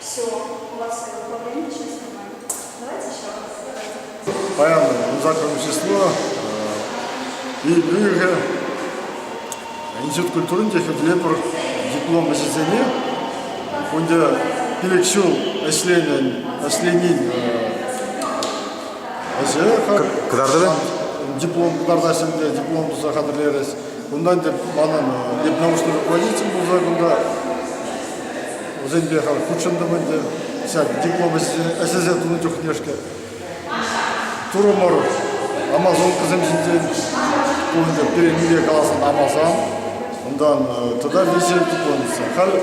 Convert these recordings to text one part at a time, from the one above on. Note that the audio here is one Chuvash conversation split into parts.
Все, у вас ограничено нормально. Давайте еще раз. Поэтому за общество и Брюге Институт культурын техетлепер диплом ӗҫӗсене унде пилӗк ҫул ӗҫленин ӗҫе кӑтартӑвӗ диплом кӑтартаҫҫӗ ӗнтӗ диплом туса хатӗрлерӗҫ унтан тӗп манӑн дипломшный руководитель пулса кунта Вӗсемпе халь хутшӑнтӑм ӗнтӗ. Ҫак диплом ӗҫлесе тунӑ чухне-ҫке. Турӑмӑр амазонкӑсем ҫинчен пурте пирӗн каласан амазан, унтан тата виҫе диплом Халь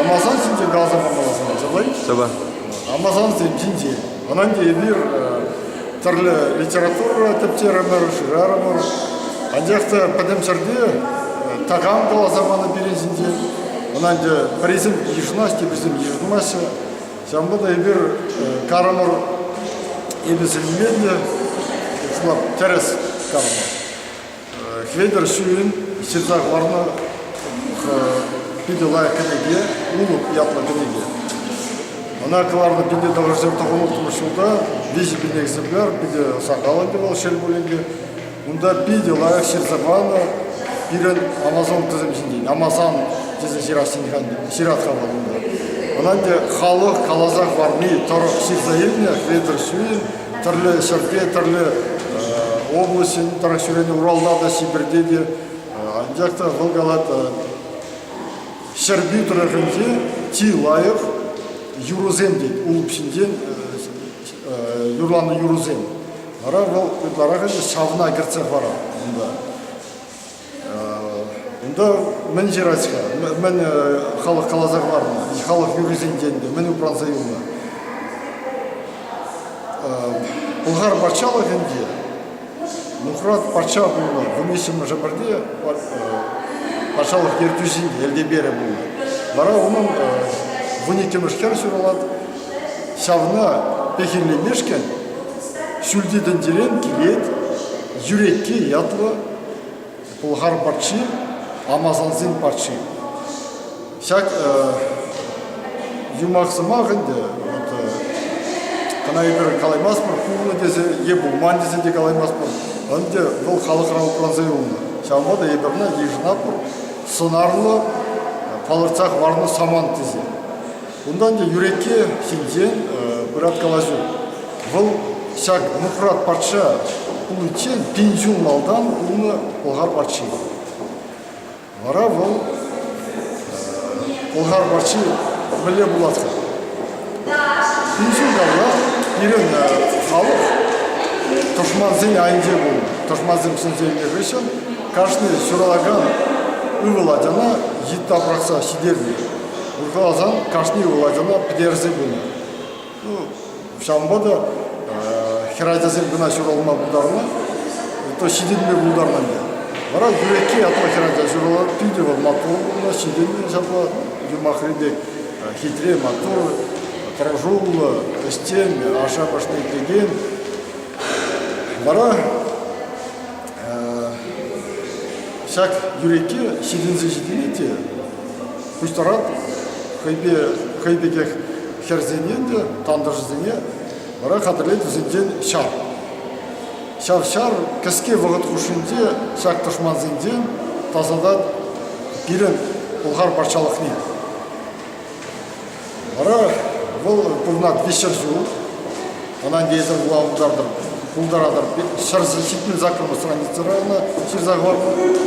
амазан ҫинчен каласа памалла сӑвӑҫ. Сӑвӑ. Амазансем ҫинчен. Ӑнӑнтӗ эпир тӗрлӗ литература тӗпчерӗмӗр, шырарӑмӑр. Анчах та пӗтӗм ҫӗрте такам каласа панӑ пирӗн ҫинчен. Ӑнӑнтӗ пӗрисем йышӑнаҫҫӗ, теприсем йышӑнмаҫҫӗ. Ҫавӑнпа та эпир карӑмӑр эпӗ сӗнме те, тӗрӗс карӑмӑр. Хветӗр ҫӳлӗн ҫырса хӑварнӑ питӗ лайӑх кӗнеке «Улӑп» ятлӑ кӗнеке. Ӑна кӑларнӑ питӗ тӑрӑшсем тӑхӑнлӑхлӑ ҫулта виҫӗ пин экземпляр питӗ сахал ӗнтӗ вӑл шел пулин те. Унта питӗ лайӑх ҫырса панӑ пирӗн амазонкӑсем ҫинчен. Амазон тесе ҫыратха вӑл унта. Ӑна ӗнтӗ халӑх каласа хӑварни тӑрӑх ҫырса илнӗ Хветӗр ҫӳлӗн тӗрлӗ ҫӗрте, тӗрлӗ облаҫӗн тӑрӑх ҫӳренӗ Уралта та, Сибирьте те. Анчах та вӑл калать, Ҫӗрпӳ тӑрӑхӗнче чи лайӑх юрӑсем, тет, улӑп ҫинчен юрланӑ юрӑсем. Вара вӑл ытларах ӗнтӗ ҫавна кӗртсе парать унта. Унта мӗн ҫырать-ха? Мӗн халӑх каласа хӑварнӑ? Халӑх юррисенчен мӗн упранса юлнӑ? Пӑлхар патшалӑхӗнче Нухрат патша пулнӑ. Вунвиҫҫӗмӗшӗ пӗрте патшалӑх ертӳҫин Элтеперӗ пулнӑ. Вара унӑн вун иккӗмӗш хӗр ҫуралать. Ҫавна пехиллемешкӗн ҫӳлти тӗнчерен килет Юрекке ятлӑ Пӑлхар патши, амасалсен патши. Ҫак юмах-сӑмах ӗнтӗ, вот, кӑна эпир калаймастпӑр, хывнӑ тесе е пулман тесе те калаймастпӑр, ӗнтӗ вӑл халӑхра упранса юлнӑ. Ҫавӑнпа та эпир ӑна йышӑнатпӑр сӑнарлӑ, палӑртса хӑварнӑ самант тесе. Унтан те Юрекке ҫинчен пырать калаҫу. Вӑл ҫак Нухрат патша пуличчен пин ҫул малтан пулнӑ пӑлхар патши. Вара вӑл пӑлхар патши мӗнле пулать-ха? Пин ҫул каялах пирӗн халӑх тӑшмансен айӗнче пулнӑ. Тӑшмансем сӗнсе илнӗ хыҫҫӑн кашни ҫуралакан ывӑл ачана йытта пӑрахса ҫитернӗ. Урхаласан кашни вулакана пӗтерсе пынӑ. Ну, ҫавӑнпа та хӗр ачасем кӑна ҫуралма пултарнӑ, то ҫитӗнме пултарнӑ ӗнтӗ. Вара юрекки ятлӑ хӗрача ҫуралать, питӗ вӑл маттур пулнӑ, ҫитӗннӗ ҫапла юмахри пек хитре, маттур, тӑрӑшуллӑ, ӗҫчен, ашшӗ-амӑшне итлекен. Вара Ҫак юреке ҫитӗнсе ҫитӗне те кустарат хӑйпе хӑй пекех хӗрсене те тантӑшӗсене вара хатӗрлет вӗсенчен ҫар. Ҫав ҫар кӗске вӑхӑт хушшинче ҫак тӑшмансенчен тасатать пирӗн Пӑлхар патшалӑхне. Вара вӑл пурӑнать виҫшер ҫул. Ӑна эсир вула утартӑр, пултаратӑр. Ҫӗрсӗр ҫитмен саккӑрпа страница района ҫырса хӑвар.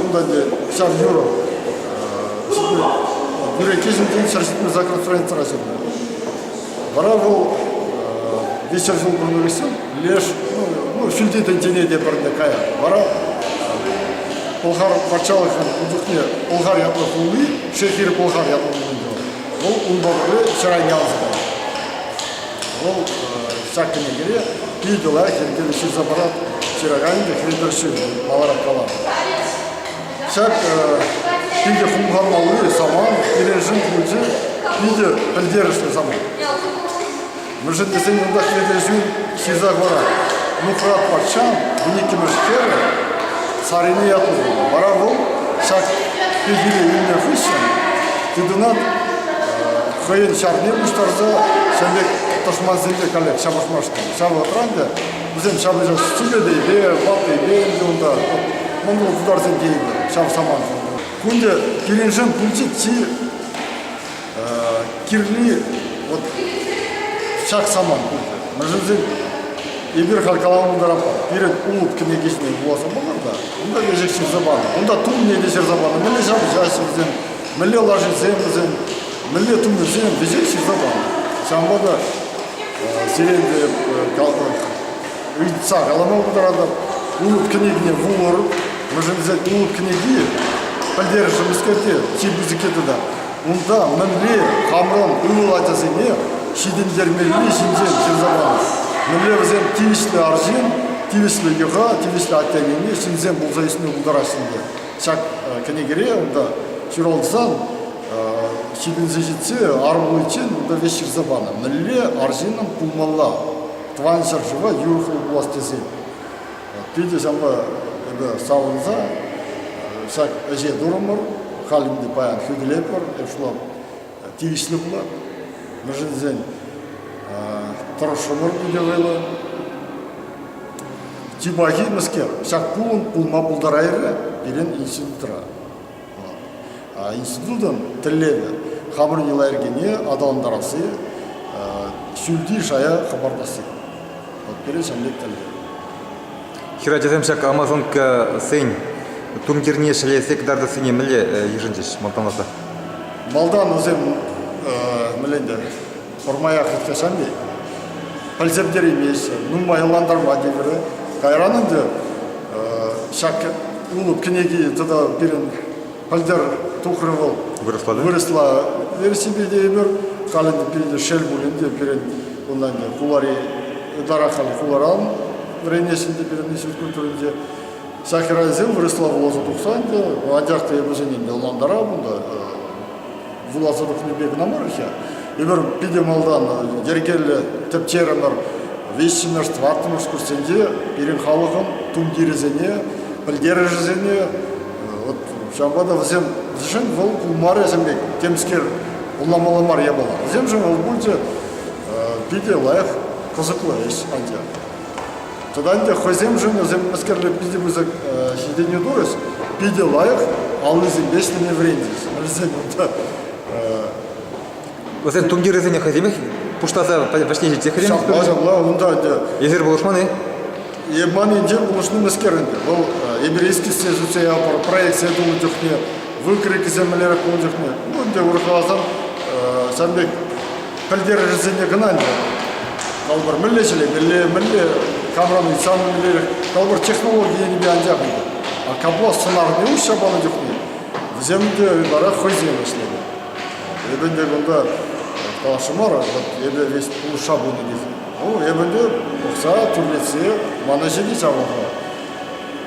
Унта 이제 ҫав юрӑ бюрократин ҫӗр ҫитмен саккӑр страницӑра ҫырнӑ. Вара вӑл виҫшер ҫул пурӑнса кӗсен леш, ну, фильти тӗнчене те пӗрне кая. Вара Пӑлхар патшалӑхӑн урлӑхне Пӑлхар ятлӑ пулни, Шехир Пӑлхар ятлӑ пулни Вӑл унпа вчера явӑҫнӑ. Вӑл ҫак кӗнекере питӗ лайӑх йӗркене ҫырса парать ҫыраканӗ Хветер Ҫын маларах каланӑ. Ҫак питӗ хумханмалли самант пирӗншӗн питӗ пӗлтерӗшлӗ самант. Мӗншӗн кунта ҫӗрлешӳ ҫырса хӑварать? Нухрат патшан виниккӗмӗш хӗрӗ Сарине яту тунӑ. Вара вӑл ҫак пехиле илнӗ хыҫҫӑн тытӑнат хӑйӗн ҫарне пуҫтарса ҫӗрле тӑшмансемпе каллех ҫапӑҫмашкӑн. Ҫав вӑхӑтра ӗнтӗ вӗсем ҫапӑҫас чӗкӗтейпе, ваттейпе ӗнтӗ унта монгол тутарсем тейӗнлӗ ҫав самантӑн. Кунти килӗшӳн пӳлчи чи Кирли вот ҫак самант пулчӗ. Мӗншӗнсен эпир халь каланӑ тӑрапа пирӗн улут кӗнекисене вуласа пӑхӑр та унта ешек ҫырса панӑ, унта тумне те ҫырса панӑ, мӗнле ҫапӑҫаҫҫӗ вӗсем, мӗнле лашисем вӗсем, мӗнле тумӗсем вӗҫех ҫырса панӑ. Ҫавӑнпа та сирен те ыйтса калама пултаратӑп, улут кӗнекине вулӑр, мӗншӗнсен улут кӗнеки пӗлтерӗшӗ мӗскер те чи пысӑкки тата Унта мӗнле хамран ывӑл ачасене ҫитӗнтермелли ҫинчен ҫырса панӑ. Мӗнле вӗсем тивӗҫлӗ арҫын, тивӗҫлӗ йӑха, тивӗҫлӗ атте-анне, ҫынсем пулса ӳсме пултараҫҫӗ. Ҫак кӗнекере унта ҫуралсан ҫитӗнсе ҫитсе арӑмлӑхчен унта веҫ ҫырса панӑ. Мӗнле арҫынӑн пулмалла тӑван ҫӗршыва юрӑхлӑ пулас тесен. Питӗ ҫавӑнпа эпӗ савӑнса ҫак ӗҫе турӑмӑр. Халь ӗнтӗ паян хӳтӗлетпӗр. Эп шула тивӗҫлӗ пулар. Мӗншӗн тесен тӑрӑшрӑмӑр икӗ вӑйлӑ. Чи пахи мӗскер, ҫак пулӑм пулма пултарайрӗ пирӗн институтра. Институтӑн тӗллевӗ хамӑрӑн йӑла-йӗркене аталантарасси, сӳлти шая хӑпартасси. Вот пирӗн ҫамрӑк тӗллев. Хӗрачасем ҫак Амазонкӑсен турнирне ҫӗлесе кӑтартассине мӗнле йышӑнчӗҫ малтанласа? Малтан вӗсем мӗнле ӗнтӗ пӑрмаях ӳккесем-и? Пӗлсерттерейместӗн, нумайлантарма тепӗрӗ. Кайран ӗнтӗ ҫак улӑп кӗнеки тата пирӗн пӗлтер тухрӗ вӑл. Вырӑсла да? Вырӑсла версипе тейӗпӗр. Халӗ пирӗн шел пулин те пирӗн унтан кулари ытарах халь куларан вӗренесшӗн те пирӗн институт культуринче. Сахирайсем вырӑсла вуласа тухсан та, анчах та эпӗ сенӗн ӑнлантарап унта вуласа тухнипе кӑна мар-ха. Эпир питӗ малтан йӗркеллӗ тӗпчерӗмӗр. Виҫҫӗмӗш, тӑваттӑмӗш курсенче пирӗн халӑхӑн тумтирӗсене, пӗлтерӗшӗсене, вот ҫавӑнпа та вӗсем, вӗсен вӑл пулмарӗсем пек темскер пулламалла мар япала. Вӗсемшӗн вӑл пулчӗ питӗ лайӑх, кӑсӑклӑ ӗҫ анчах. Тата ӗнтӗ хӑйсемшӗн вӗсем мӗскерле питӗ пысӑк ҫитӗнӳ турӗҫ, питӗ лайӑх аллисемпе ӗҫлеме вӗренчӗҫ. Вӗсен унта Вӗсен тумтирӗсене хӑйсемех пуҫласа вӗҫне ҫитсех Ҫапла, ҫапла, унта ӗнтӗ... Эсир пулӑшман-и? Е ман енчен пулӑшни мӗскер ӗнтӗ? Вӑл Эберийски ҫӗршутсе ятпӑр проектсем тунӑ чухне, выкройкӑсем мӗнлерех пулнӑ чухне, ну ӗнтӗ урӑхласан ҫавӑн пек пӗлтерӗшӗсене кӑна ӗнтӗ. Калӑпӑр, мӗнле ҫӗлемелле, мӗнле камран ыйтсан мӗнлерех. Калӑпӑр, технологи енӗпе анчах ӗнтӗ. А капла сӑнарне уҫса панӑ чухне вӗсем те вара хӑйсем ӗҫленӗ. Эпӗ ӗнтӗ кунта калашу мар, вот эпӗ весь пулӑшса пынӑ тет. Ну, эпӗ ӗнтӗ пӑхса, тӳрлетсе ман ӗҫӗне ҫавӑрнӑ.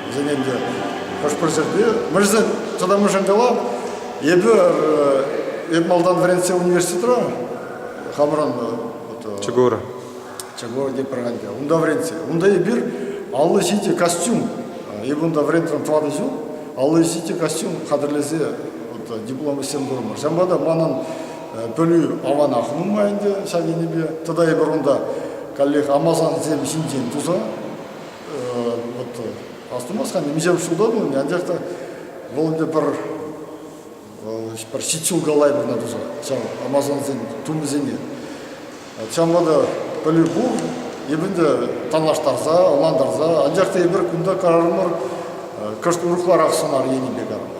Вӗсен ӗнтӗ хӑш-пӗр ҫӗрте, мӗншӗн тата мӗншӗн кала, Эпӗ эп малтан вӗрентсе университетра хамран Чугура. Чугура Праганда. Унта вӗрентсе. Унта эпир аллӑ ҫити костюм. Эпӗ унта вӗрентрӗм тӑватӑ ҫул. Аллӑ ҫити костюм хатӗрлесе диплом ӗҫсем турӑмӑр. Ҫавӑнпа та манӑн пӗлӳ аванах нумай ӗнтӗ ҫак енӗпе. Тата эпир унта каллех амасансем ҫинчен туса вот Астумастхан нимҫем шута тунӑ, анчах та вӑл ӗнтӗ пӗр пӗр ҫичҫулкалай вырна туса ҫав амазонсен тумӗсене. Ҫавӑнпа та пӗлӳ пур, эп ӗнтӗ танлаштарса, ӑнлантарса, анчах та эпир кунта карарӑмӑр кӑшт урӑхларах сӑнар енӗпе карӑпа.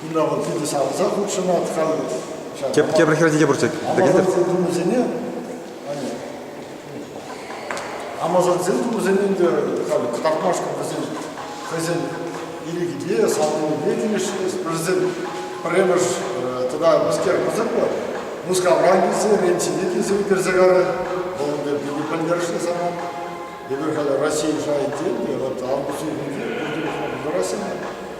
Кунта вӑл питӗ савӑнса хутшӑнать халӗ. Тепӗр хӗрсене те пурччӗ. Амасӑрсен тумӗсене Амасӑрсен тумӗсене ӗнтӗ халӗ кӑтартмашкӑн вӗсен хӑйсен ирӗкӗпе, савӑнӑвӗпе килӗшрӗҫ. Вӗсем пӗрремӗш тата мӗскер кӑсӑклӑ Мускавран килсе, Рим ҫине килсе ӳкерсе карӗ. Вӑл ӗнтӗ питӗ пӗлтерӗшлӗ самант. Эпир халӗ России шайӗнче те, вот Август ҫемьинче пурте хӑвӑрсӑрасене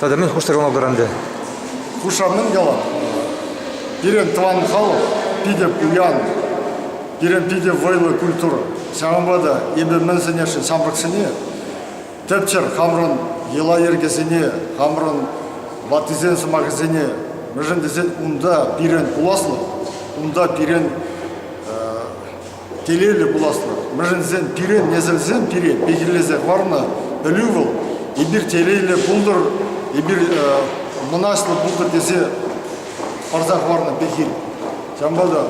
Тата мӗн хушсӑрланатӑр ӗнтӗ? Хушамнӑм ялан. Пирӗн тӑван халӑх питӗ пуян. Пирӗн питӗ вӑйлӑ культура. Ҫавӑнпа та эпӗ мӗн сӗнесшӗн ҫамрӑксене тӗпчӗр хамӑрӑн йӑла-йӗркесене, хамӑрӑн ваттисен сӑмахӗсене, мӗншӗн тесен унта пирӗн пуласлӑх, унта пирӗн телейлӗ пуласлӑх. Мӗшӗнсем пире, несӗлсем пире пехиллесе хӑварнӑ пӗлӳ вӑл. Эпир телейлӗ пултӑр, эпир мӑнаҫлӑ пултӑр тесе парса хӑварнӑ пехил. Ҫавӑнпа та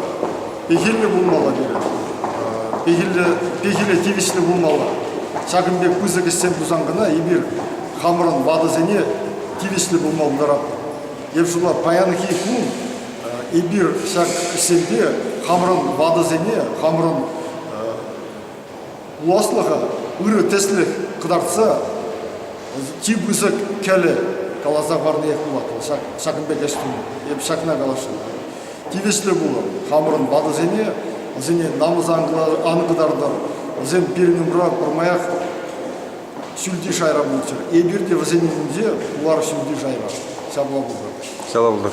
пехиллӗ пулмалла пирӗн. Пехилле, пехиле тивӗҫлӗ пулмалла. Ҫакӑн пек пысӑк ӗҫсем тусан кӑна эпир хамӑрӑн ватӑсене тивӗҫлӗ пулма пултаратпӑр. Евшула, паянхи кун эпир ҫак ӗҫсемпе хамӑрӑн ватӑсене, хамӑрӑн пуласлӑха ырӑ тӗслӗх кӑтартса чи пысӑк кӗлӗ каласа парниех пулать ҫак, ҫакӑн пек ӗҫ туни. Эп ҫакна каласшӑн. Тивӗҫлӗ пулӑр хамӑрӑн ватӑсене, вӗсене намӑс ан кӑтартӑр, вӗсем пирӗн умра пӗрмаях Ҫӳлти шайра пулччӑр. Эпир те вӗсен умӗнче пулар ҫӳлти шайра. Ҫапла пултӑр. Ҫапла пултӑр.